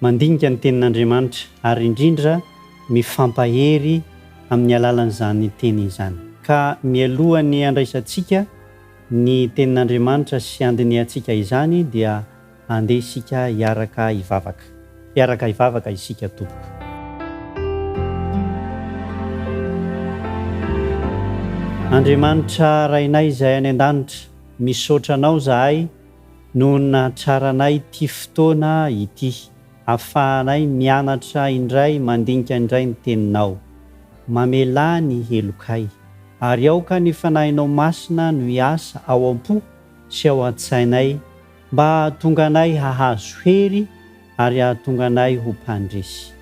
Mandinika ny Tenin'Andriamanitra ary indrindra mifampahery amin'ny alalan'izany teny izany. Ka mialoha ny handraisantsika ny Tenin'Andriamanitra sy handinihantsika izany dia andeha isika hiaraka hivavaka. Hiaraka hivavaka isika tompoko. Andriamanitra Rainay izay any an-danitra, misaotra Anao izahay. noho ny nahatsaranay ity fotoana ity ahafahanay mianatra indray mandinika indray ny Teninao. Mamelà ny helokay, ary aoka ny Fanahinao Masina no hiasa ao am-po sy ao an-tsainay mba hahatonga anay hahazo hery ary hahatonga anay ho mpandresy,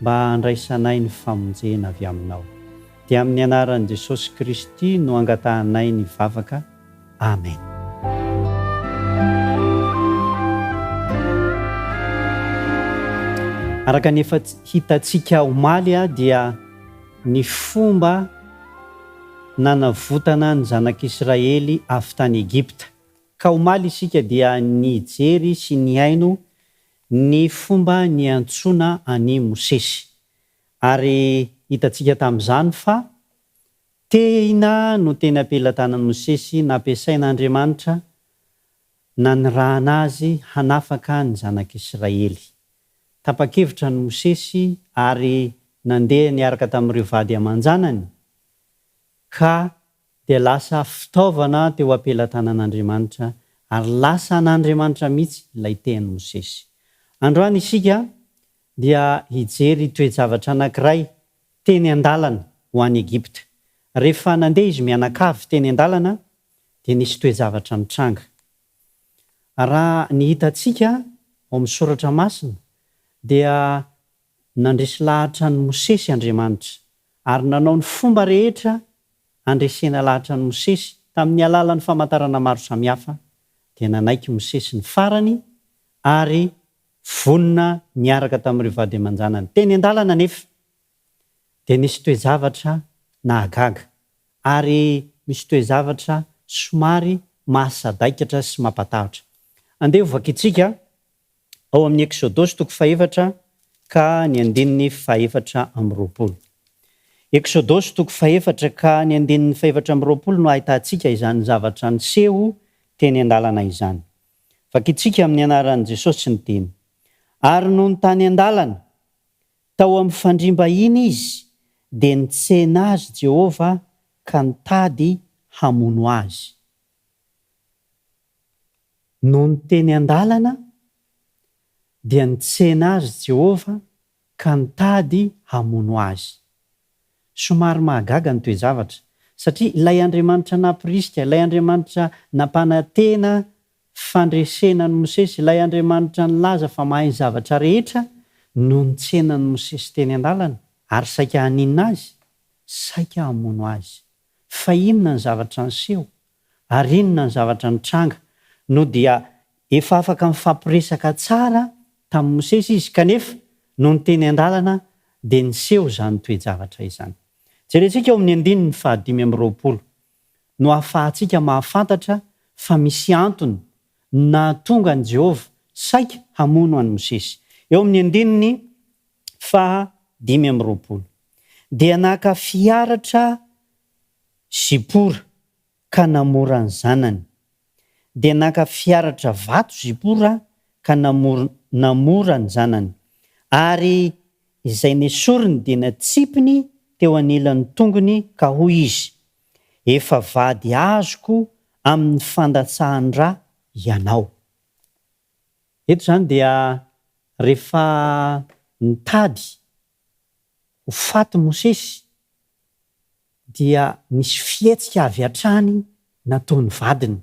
mba handraisanay ny famonjena avy Aminao. Dia amin'ny Anaran'i Jesosy Kristy no angatahanay ny vavaka. Amen. Araka ny efa hitantsika omaly dia ny fomba nanavotana ny zanak'Israely avy tany Egypta. Ka omaly isika dia nijery sy nihaino ny fomba niantsoana an'i Mosesy. Ary hitantsika tamin'izany fa Tehina no teny am-pelatanan'i Mosesy nampiasain'Andriamanitra nanirahana azy hanafaka ny zanak'Israely. Tapa-kevitra ny Mosesy ary nandeha niaraka tamin'ireo vady aman-janany ka dia lasa fitaovana teo am-pelatanan'Andriamanitra ary lasa an'Andriamanitra mihitsy ilay tehan'i Mosesy. Androany isika dia hijery toe-javatra anankiray teny an-dalana ho any Egypta. Rehefa nandeha izy mianakavy teny an-dalana dia nisy toe-javatra nitranga. Raha ny hitantsika ao amin'ny soratra masina dia nandresy lahatra an'i Mosesy Andriamanitra ary nanao ny fomba rehetra handresena lahatra an'i Mosesy tamin'ny alalan'ny famantarana maro samihafa dia nanaiky Mosesy ny farany ary Vonona niaraka tamin'ireo vady aman-janany teny an-dalana anefa dia nisy toe-javatra nahagaga ary misy toe-javatra somary mahasadaikatra sy mampatahotra. Andeha ho vakintsika ao amin'ny Eksodosy toko fahefatra ka ny andininy fahefatra amby roapolo. Eksodosy toko fahefatra ka ny andininy fahefatra amby roapolo no ahitantsika izany zavatra niseho teny an-dalana izany. Vakintsika amin'ny anaran'i Jesosy ny teny. Ary nony tany an-dalana, tao amin'ny fandriam-bahiny izy, dia nitsena azy Jehovah ka nitady hamono azy. Nony teny an-dalana, dia nitsena azy Jehovah ka nitady hamono azy. Somary mahagaga ny toe-javatra, satria ilay Andriamanitra nampirisika, ilay Andriamanitra nampanantena fandresena an'i Mosesy, ilay Andriamanitra nilaza fa mahay ny zavatra rehetra no nitsena an'i Mosesy teny an-dalana ary saika haninona azy? Saika hamono azy. Fa inona ny zavatra niseho? ary inona ny zavatra nitranga? No dia efa afaka nifampiresaka tsara tamin'i Mosesy izy, kanefa nony teny an-dalana dia niseho izany toe-javatra izany. Jerentsika ao amin'ny andininy fahadimy amby roapolo no ahafahantsika mahafantatra fa misy antony no nahatonga an'i Jehovah saika hamono an'i Mosesy. Eo amin'ny andininy faha dimy amby roapolo, Dia naka fiaratra Zipora ka namora ny zanany. Dia naka fiaratra vato Zipora ka namora ny zanany, ary izay nesoriny dia natsipiny teo anilan'ny tongony ka hoy izy, Efa vady azoko amin'ny fandatsahan-dra ianao. Eto izany dia rehefa nitady ho faty Mosesy, dia nisy fihetsika avy hatrany nataon'ny vadiny.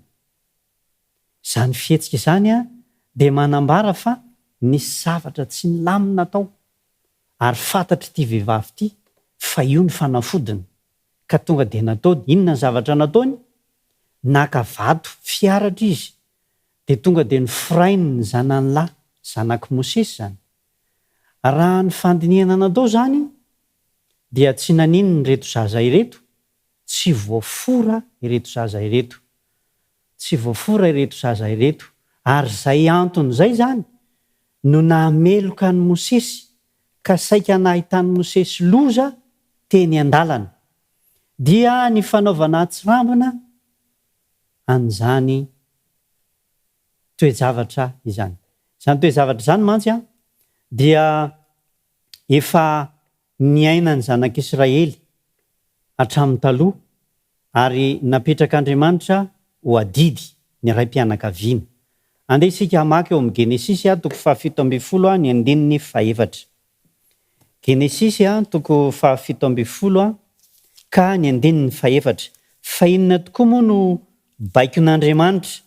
Izany fihetsika izany dia manambara fa nisy zavatra tsy nilamina tao, ary fantatr'ity vehivavy ity fa io ny fanafodiny, ka tonga dia nataony. Inona ny zavatra nataony? Naka vato fiharatra izy, dia tonga dia noforainy ny zanany lahy, zanak'i Mosesy izany. Raha ny fandinihana nadao izany dia tsy naninona ireto zaza ireto tsy voafora ireto zaza ireto tsy voafora ireto zaza ireto ary izay antony izay izany no nahameloka an'i Mosesy ka saika nahitan'i Mosesy loza teny an-dalana dia ny fanaovana atsirambina an'izany toe-javatra izany. Izany toe-zavatra izany mantsy dia efa niainan'ny zanak'Israely hatramin'ny taloha ary napetrak'Andriamanitra ho adidy ny raim-pianakaviana. Andeha isika hamaky ao amin'ny Genesisy toko fahafito ambin'ny folo ny andininy fahefatra. Genesisy toko fahafito ambin'ny folo ka ny andininy fahefatra. Fa inona tokoa moa no baikon'Andriamanitra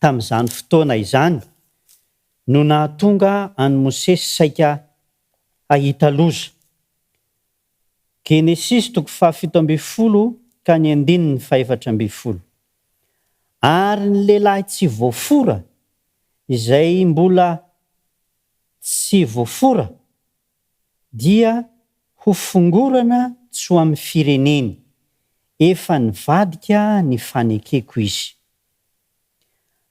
tamin'izany fotoana izany no nahatonga an'i Mosesy saika hahita loza. Genesisy toko fahafito ambin'ny folo ka ny andininy fahefatra ambin'ny folo. Ary ny lehilahy tsy voafora, izay mbola tsy voafora, dia ho fongorana tsy ho amin'ny fireneny, efa nivadika ny fanekeko izy.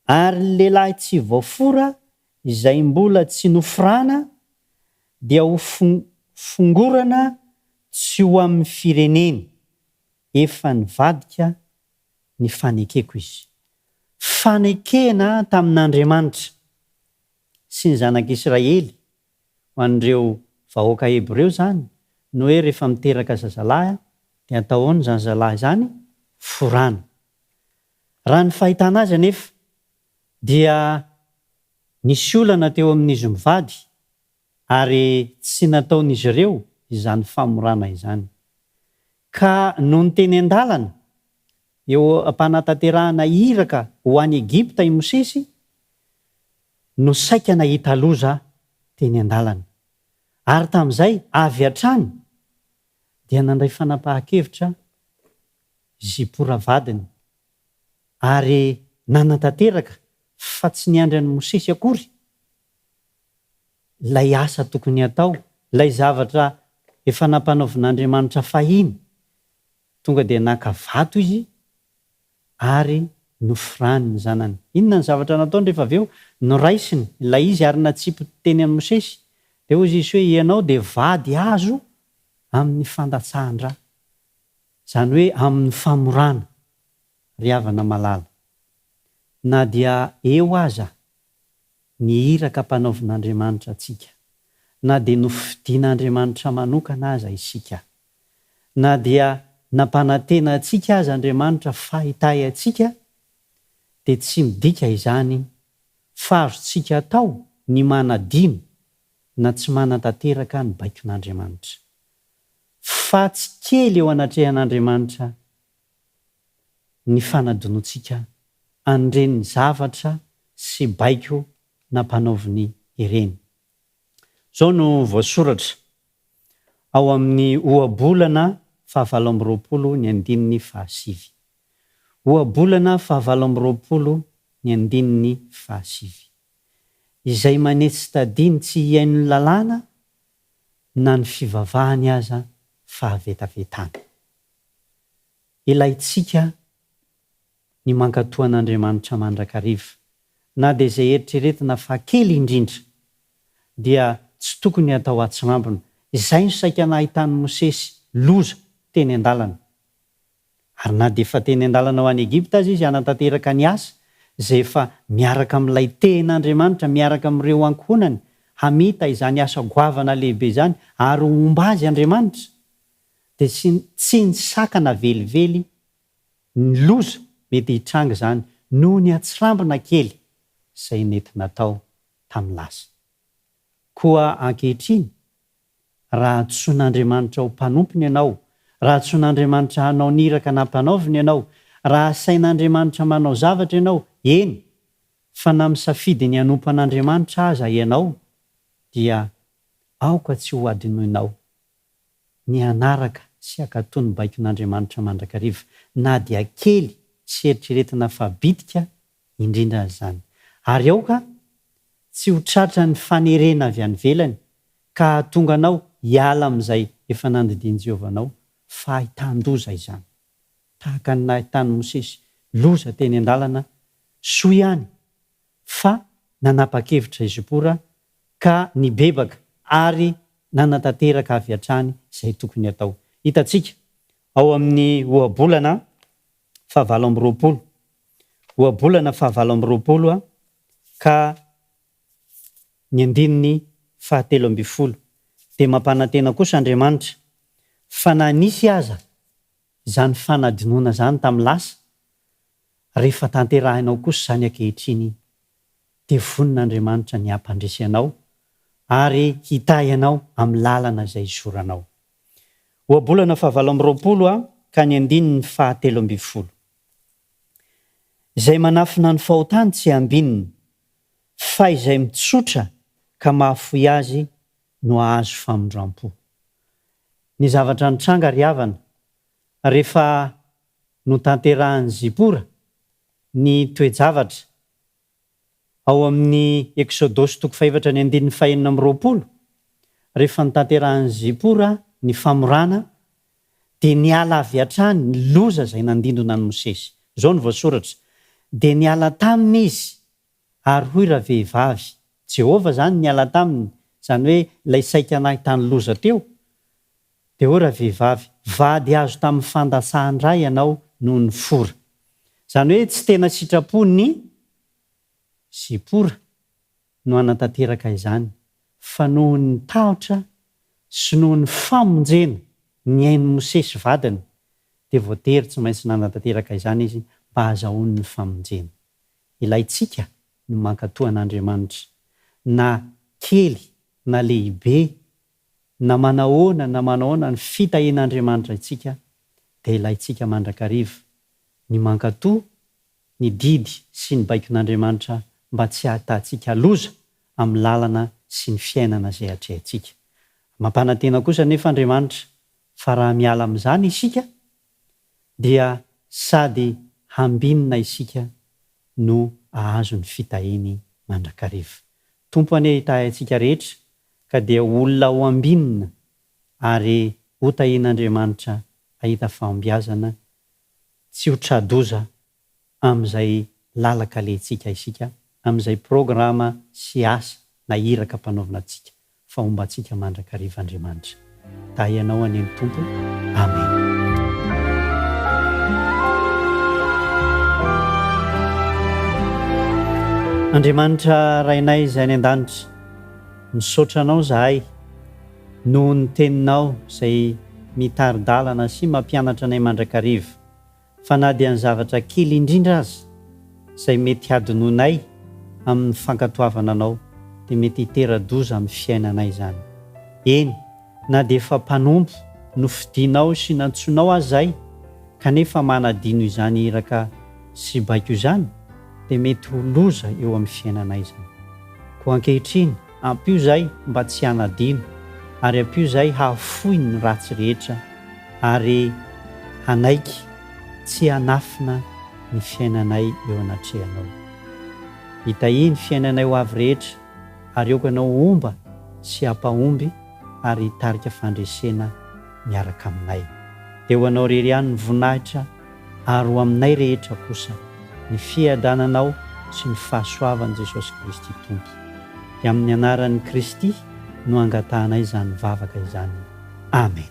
Ary ny lehilahy tsy voafora izay mbola tsy noforana dia ho fongorana tsy ho amin'ny fireneny, efa nivadika ny fanekeko izy. Fanekena tamin'Andriamanitra sy ny zanak'Israely Ho an'ireo vahoaka hebreo izany ny hoe rehefa miteraka zazalahy dia antahoany izany zazalahy izany forana. Raha ny fahitana azy anefa dia nisy olana teo amin'izy mivady ary tsy nataon'izy ireo izany famorana izany. Ka nony teny an-dalana eo am-panatanterahana iraka ho any Egypta i Mosesy no saika nahita loza teny an-dalana ary tamin'izay avy hatrany dia nandray fanapahan-kevitra izy Zipora vadiny ary nanatanteraka fa tsy niandry an'i Mosesy akory ilay asa tokony hatao, ilay zavatra efa nampanaovin'Andriamanitra fahiny. Tonga dia naka vato izy ary noforany ny zanany. Inona ny zavatra nataony rehefa avy eo? Noraisiny ilay izy ary natsipy teny amin'i Mosesy. Dia hoy izy hoe, Ianao dia vady azo amin'ny fandatsahan-dra, izany hoe amin'ny famorana, ry havana malala. Na dia eo aza ny iraka ampanaovin'Andriamanitra antsika, na dia nofidin'Andriamanitra manokana aza isika, Na dia nampanantena antsika aza Andriamanitra fa hitahy antsika, dia tsy midika izany fa azontsika atao ny manadino na tsy manantanteraka ny baikon'Andriamanitra. Faty kely eo anatrehan'Andriamanitra ny fanadinoantsika an'ireny zavatra sy baiko nampanaoviny ireny. Izao no voasoratra ao amin'ny Ohabolana fahavalo amby roapolo ny andininy fahasivy. Ohabolana fahavalo amby roapolo ny andininy fahasivy. Izay manetsy tadiny tsy hihaino ny lalàna na ny fivavahany aza fahavetavetana. Ilaintsika ny mankatoa an'Andriamanitra mandrakariva. Na dia izay eritreretina fa kely indrindra dia tsy tokony atao atsirambina. Izay no saika nahitan'i Mosesy loza teny an-dalana. Ary na dia efa teny an-dalana ho any Egypta aza izy hanatanteraka ny asa izay efa miaraka amin'ilay tehin'Andriamanitra miaraka amin'ireo ankohonany hamita izany asa goavana lehibe izany ary homba azy Andriamanitra dia tsy nisakana velively ny loza mety hitranga izany noho ny hatsirambina kely izay nety natao tamin'ny lasa. Koa ankehitriny, raha antsoin'Andriamanitra ho mpanompony ianao, raha antsoin'Andriamanitra hanao ny iraka nampanaoviny ianao, raha asain'Andriamanitra manao zavatra ianao, eny, fa na misafidy ny hanompo an'Andriamanitra aza ianao, dia aoka tsy hohadinoinao ny hanaraka sy hankatò ny baikon'Andriamanitra mandrakariva, na dia kely sy eritreretina fa bitika indrindra aza izany. Ary aoka tsy ho tratran'ny fanerena avy any ivelany ka hahatonga anao hiala amin'izay efa nandidian'i Jehovah anao, fa ahitan-doza izany. Tahaka ny nahitan'i Mosesy loza teny an-dalana soa ihany fa nanapa-kevitra i Zipora ka nibebaka ary nanatanteraka avy hatrany izay tokony hatao. Hitantsika ao amin'ny Ohabolana fahavalo amby roapolo, Ohabolana fahavalo amby roapolo ka ny andininy fahatelo ambin'ny folo, Dia mampanantena kosa Andriamanitra fa na nisy aza izany fanadinoana izany tamin'ny lasa, rehefa tanterahinao kosa izany ankehitriny iny, dia vonin'Andriamanitra ny hampandresy anao ary hitahy anao amin'ny lalana izay hizoranao. Ohabolana fahavalo amby roapolo ha ka ny andininy fahatelo ambin'ny folo. Izay manafina ny fahotany tsy hambinina, fa izay mitsotra ka mahafoy azy no hahazo famindram-po. ny zavatra nitranga ry havana rehefa notanterahan'i Zipora ny toe-javatra ao amin'ny Eksodosy toko fahefatra ny andininy fahenina amby roapolo, rehefa notanterahan'i Zipora ny famorana dia niala avy hatrany ny loza izay nandindona an'i Mosesy. Izao no voasoratra, Dia niala taminy izy Ary hoy ravehivavy, Jehovah izany niala taminy, izany hoe ilay saika nahy tany loza teo. Dia hoy ravehivavy, Vady azo tamin'ny fandatsahan-dra ianao noho ny fora. Izany hoe tsy tena sitrapo ny Zipora no hanatanteraka izany, fa noho ny tahotra sy noho ny famonjena nihain'i Mosesy vadiny, dia voatery tsy maintsy nanatanteraka izany izy mba hahazahoany ny famonjena. ilaintsika ny mankatò an'Andriamanitra, na kely na lehibe, na manahoana na manahoana ny fitahian'Andriamanitra antsika, dia ilaintsika mandrakariva ny mankatò ny didy sy ny baikon'Andriamanitra mba tsy hahatahantsika loza amin'ny lalana sy ny fiainana izay atrehintsika. Mampanantena kosa anefa Andriamanitra fa raha miala amin'izany isika dia sady hambinina isika no ahazo ny fitahiany mandrakariva. Tompo anie hitahy antsika rehetra ka dia olona ho ambinina ary hotahian'Andriamanitra hahita fahombiazana tsy ho tra-doza amin'izay lalan-kalentsika isika, amin'izay programa sy asa na iraka ampanaovina antsika, fa homba antsika mandrakariva Andriamanitra. Dahy anao anie ny Tompo. Amena. Andriamanitra Rainay izay any an-danitra, misaotra Anao izahay noho ny Teninao izay mitari-dalana sy mampianatra anay mandrakariva. fa na dia ny zavatra kely indrindra aza izay mety hadinoinay amin'ny fankatoavana anao dia mety hitera-doza amin'ny fiainanay izany. Eny, na dia efa mpanompo nofidinao sy nantsoinao aza izahay kanefa manadino izany iraka sy baiko izany dia mety ho loza eo amin'ny fiainanay izany. Koa ankehitriny, Ampio izay mba tsy hanadino, ary ampio izay hahafoy ny ratsy rehetra, ary hanaiky tsy hanafina ny fiainanay eo anatrehanao. Itahy ny fiainanay ho avy rehetra, ary aoka anao homba sy hampahomby ary hitarika fandresena miaraka aminay. Dia ho anao irery ihany ny voninahitra ary ho aminay rehetra kosa ny fiadananao sy ny fahasoavan'i Jesosy Kristy Tompo. Dia amin'ny anaran'i Kristy no angatahanay izany vavaka izany. Amen.